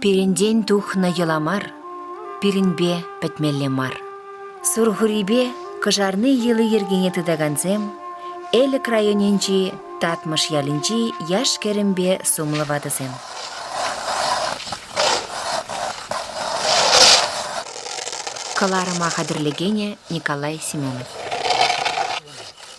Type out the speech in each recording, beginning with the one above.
Пирӗнтен тухнӑ йӑла мар, пирӗнпе пӗтмелле мар. Сурхурипе кӑшарни йӑли-йӗркине тытакансем Элӗк районӗнчи Татмӑш ялӗнчи яш-кӗрӗмпе сумлӑ ватӑсем. Кӑларӑма хатӗрлекенӗ Николай Семенов.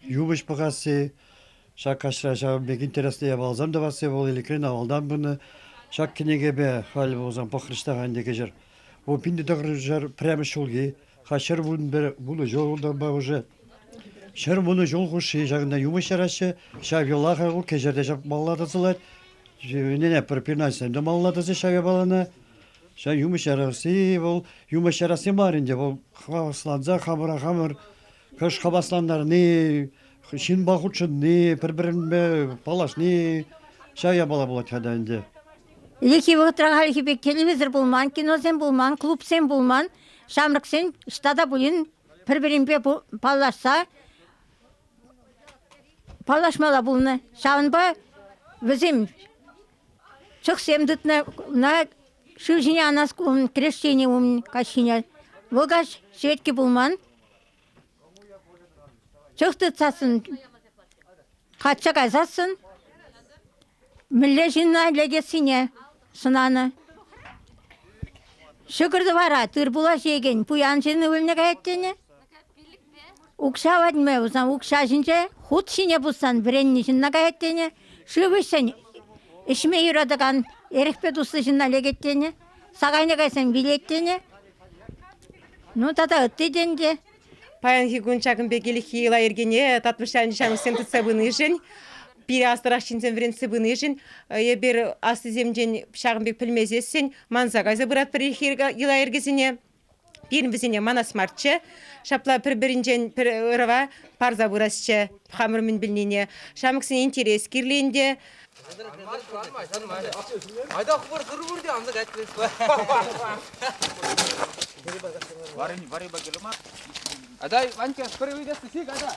Юпӑҫ пӑхасси, ҫак каҫра ҫавӑн пек интереслӗ япаласем тӑвасси вӑл Элӗкрен авалтан пынӑ. Ҫак кӗнекепе халӗ пулсан пӑхрӑҫ ӗнтӗ кӗҫӗр. Вӑл пин тӑхӑршар пӗрремӗш ҫулхи, ха ҫӗр вун пӗр вунӑ ҫултанпа уже. Ҫӗр вунӑ ҫул хушши ҫакӑнта юмӑҫ яраҫҫӗ. Ҫав йӑлаха вӑл кӗҫӗрте ҫапмалла тӑсӑлать. Ӗнене профинанссем те малла тӑсӗҫ ҫав япалана. Ҫав юмӑҫ ярасси вӑл юмӑҫ ярасси мар ӗнтӗ, вӑл хавасланса хамӑра хамӑр хӑш хаваслантарни, ҫынпа хутшӑнни, пӗр-пӗринпе паллашни, ҫав япала пулать хата ӗнтӗ. Ӗлӗкхи вӑхӑтра хальхи пек кинемесӗр пулман, киносем пулман, клубсем пулман. Ҫамрӑксен ҫта та пулин пӗр-пӗринпе паллашса паллашмалла пулнӑ. Ҫавӑнпа вӗсем чӑхсем тытнӑ. Ӑна шыв ҫине анас кун крещени умӗн каҫ ҫине. Вӑл каҫ ҫветки пулман. Чӑх тытсассӑн, качча кайсассӑн мӗнле ҫынна лекессине сӑнанӑ. Ҫӑкӑр-тӑвара тырпула ҫиекен пуян ҫын ывӑлне каять тенӗ. Укҫа ватма пулсан укҫа ҫинче хут ҫине пуссан вӗреннӗ ҫынна каять тенӗ, шыв ӗҫсен ӗҫме юратакан эрехпе туслӑ ҫынна лекет тенӗ, сакайне кайсан вилет тенӗ. Ну тата ытти тенкӗ. Паянхи кун ҫакӑн пек иреххи йӑла-йӗркене татмӑш ҫанӑҫсем тытса пынишӗн, пире аслӑрах ҫынсем вӗрентсе пынишӗн, эпир аслисемшӗн ҫакӑн пек пӗлмесессӗн манса кайса пыратпӑр иреххи йӑла-йӗркесене. Пирӗн вӗсене манас марччӗ. Ҫапла пӗр-пӗринчен пӗр ӑрӑва парса пырасчӗ хамӑр мӗн пӗлнине. Ҫамрӑксен интерес кирлӗ ӗнтӗ. Айда хӑвӑр сырвӑр те аны кайтресла. Варя, Варя Багелма. Айда, Ванька, скорее уйдесся, сик, айда.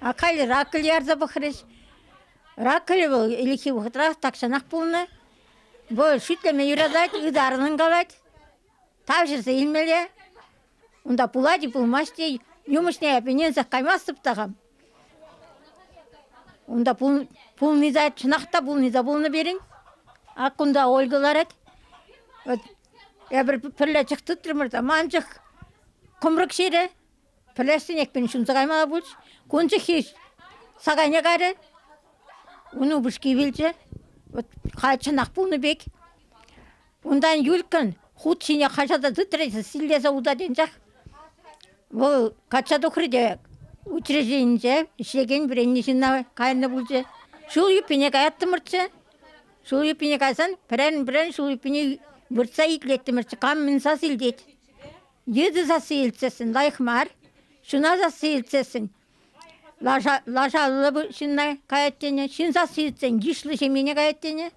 А халӗ ракель ярса пӑхрӗҫ. Ракель вӑл ӗлӗкхи вӑхӑтра тахҫанах пулнӑ. Вӑл шӳтлеме юратать, ытарӑнӑн калать. Тавҫӑрса илмелле. Унта пулать-и, пулмасть-и, юмӑҫне эп ӗненсех каймастӑп та хам. Унта пулни те, чӑнах та пулни те пулнӑ пирӗн. Ак кунта Ольга ларать. Эпир пӗрле чӑх тытрӑмӑр та ман чӑх кӑмрӑк ҫирӗ. Пӗлессӗнекен ҫунса каймалла пуль. Кун чухи сакайне кайрӗ. Ун упӑшки вилчӗ. Вӑт халь чӑнах пулнӑ пек. Унтан Юльккан хут ҫине хаҫата тытрӗ те силлесе утать анчах. Вӑл качча тухрӗ те учрежденинче ӗҫлекен вӗреннӗ ҫынна кайнӑ пулчӗ. Ҫул юппине каяттӑмӑрччӗ. Ҫул юппине кайсан пӗрерӗн-пӗрерӗн ҫул юппине выртса итлеттӗмӗрччӗ. Кам мӗн сас илтет. Йытӑ сасси илтсессӗн лайӑх мар. Ҫуна сасси илтсессӗн лаша, лашаллӑ ҫынна каять тенӗ. Ҫын сасси илтсен йышлӑ ҫемьене каять тенӗ.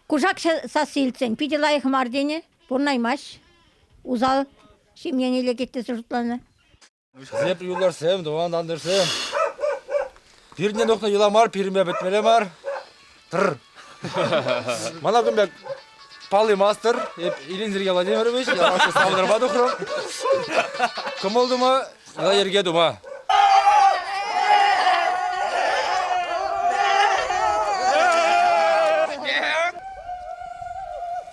Кушак сасси илтсен питӗ лайӑх мар тенӗ. Пурӑнаймасть. Усал ҫемьене лекет тесе шутланӑ. Эсеп юлашсем, тӑван тантӑшсем. Пирне нухнӑ йӑла мар, пирме пӗтмеле мар. Тыр. Мана кун пек паллимастӑр. Эп Ильин Сергей Владимирович, яланхи савӑнӑрпа тухрӑм. Кӑмӑл тума, йӗрке тума.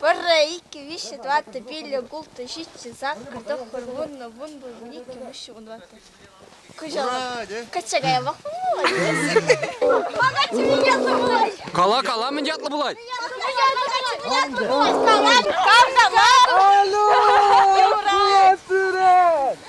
Пӗрре, иккӗ, виҫҫӗ, тӑваттӑ, пиллӗ, ултӑ, ҫиччӗ, саккӑр, тӑххӑр, вуннӑ, вун пулвун, иккӗ, виҫҫӗ, вун тӑваттӑ. Кӑҫал качча каявах пулать. Кала, кала, мӗн ятлӑ пулать? Салам, кавтамар. Алло, пулат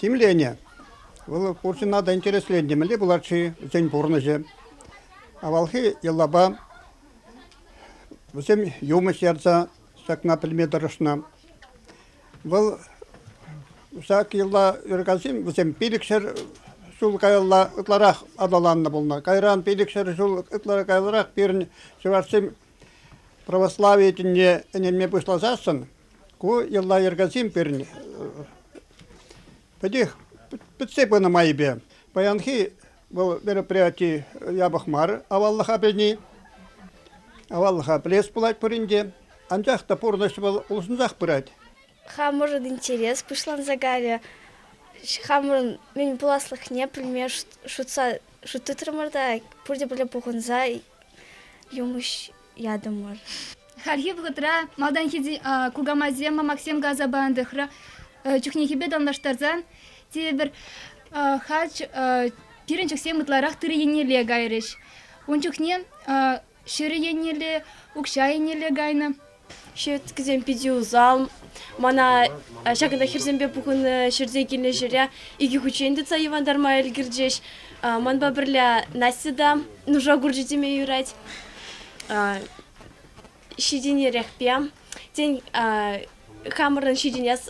тимленӗ. Вӑл хурҫӑна та интересленнӗ мӗнле пулать-ши вӗсен пурнӑҫӗ. Авалхи йӑлапа вӗсем юмӑҫ ярса ҫакна пӗлме тӑрӑшнӑ. Вӑл ҫак йӑла ыркасин вӗсем пилӗкҫӗр ҫул каялла ытларах аталаннӑ пулнӑ. Кайран пилӗкҫӗр ҫул ытларах каяллах пирӗн чӑвашсем православи тӗнне ӗненме пуҫласассӑн ку йӑла-йӗркесем пирӗн пӗтех пӗтсе пынӑ майӗпе. Паянхи вӑл мероприяти япӑх мар аваллӑха пӗлни. Аваллӑха пӗлес пулать пурин те, анчах та пурнӑҫ вӑл улшӑнсах пырать. Хамӑрӑн интерес пуҫланса кайрӗ. Хамӑрӑн мӗн пуласлӑхне пӗлме шутса шут тытрӑмӑр та пурте пӗрле пухӑнса юмӑҫ ятӑмӑр. Хальхи вӑхӑтра малтанхи кукамайсем, мамаксем каласа панӑ тӑхра чухнехипе танлаштарсан тепӗр хать пирӗн чӑхсем ытларах тырӑ еннелле кайрӗҫ. Ун чухне ҫӗрӗ еннелле, укҫа еннелле кайнӑ. Ҫеткисем питӗ усал. Мана ҫакӑнта хӗрсемпе пухӑннӑ ҫӗрте килнӗ ҫӗре икӗ хутчен тытса йӑвантарма ӗлкӗрчӗҫ. Манпа пӗрле Настя та нуша курчӗ теме юрать. Ҫитӗнерехпе, тен, хамӑрӑн ҫитӗнес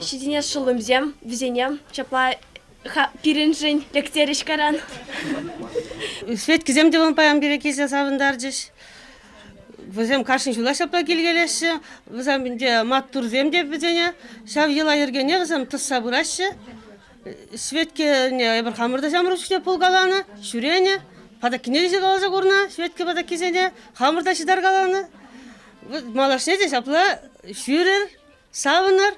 ҫитӗнес шӑллӑмсем вӗсене ҫапла пирӗншӗн лектерӗҫ каран. Ҫеткисем те паян пире килсе савӑнтарчӗҫ. Вӗсем кашни ҫула ҫапла килкелеҫҫӗ. Вӗсем ӗнтӗ маттурсем те вӗсене. Ҫав йӑла-йӗркене вӗсем тӑсса пыраҫҫӗ. Ҫветкене эпир хамӑр та ҫамрӑк чухне пулкаланӑ, ҫӳренӗ. Патаккине те ҫуталаса курнӑ Ҫветке патаккисене. Хамӑр та ҫытаркаланӑ. Малашне те ҫапла ҫӳрӗр, савӑнӑр.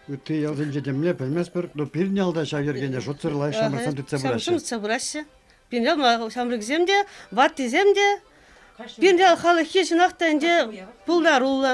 Ытти ялсенче темле пӗлместпӗр, но пирӗн ялта ҫав йӗркене шутсӑр лайӑх ҫамрӑксем тытса пыраҫҫӗ. Шӑнтса пыраҫҫӗ. Пирӗн ялма ҫамрӑксем те, ваттисем те Пирӗн халӑххи чӑнах та ӗнтӗ пултаруллӑ.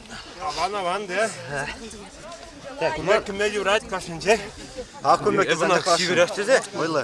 Аван аван те. Кунта кӗме юрать кашнинче. А кунта Эсӗ ӑна сивӗрех тесе ойлы.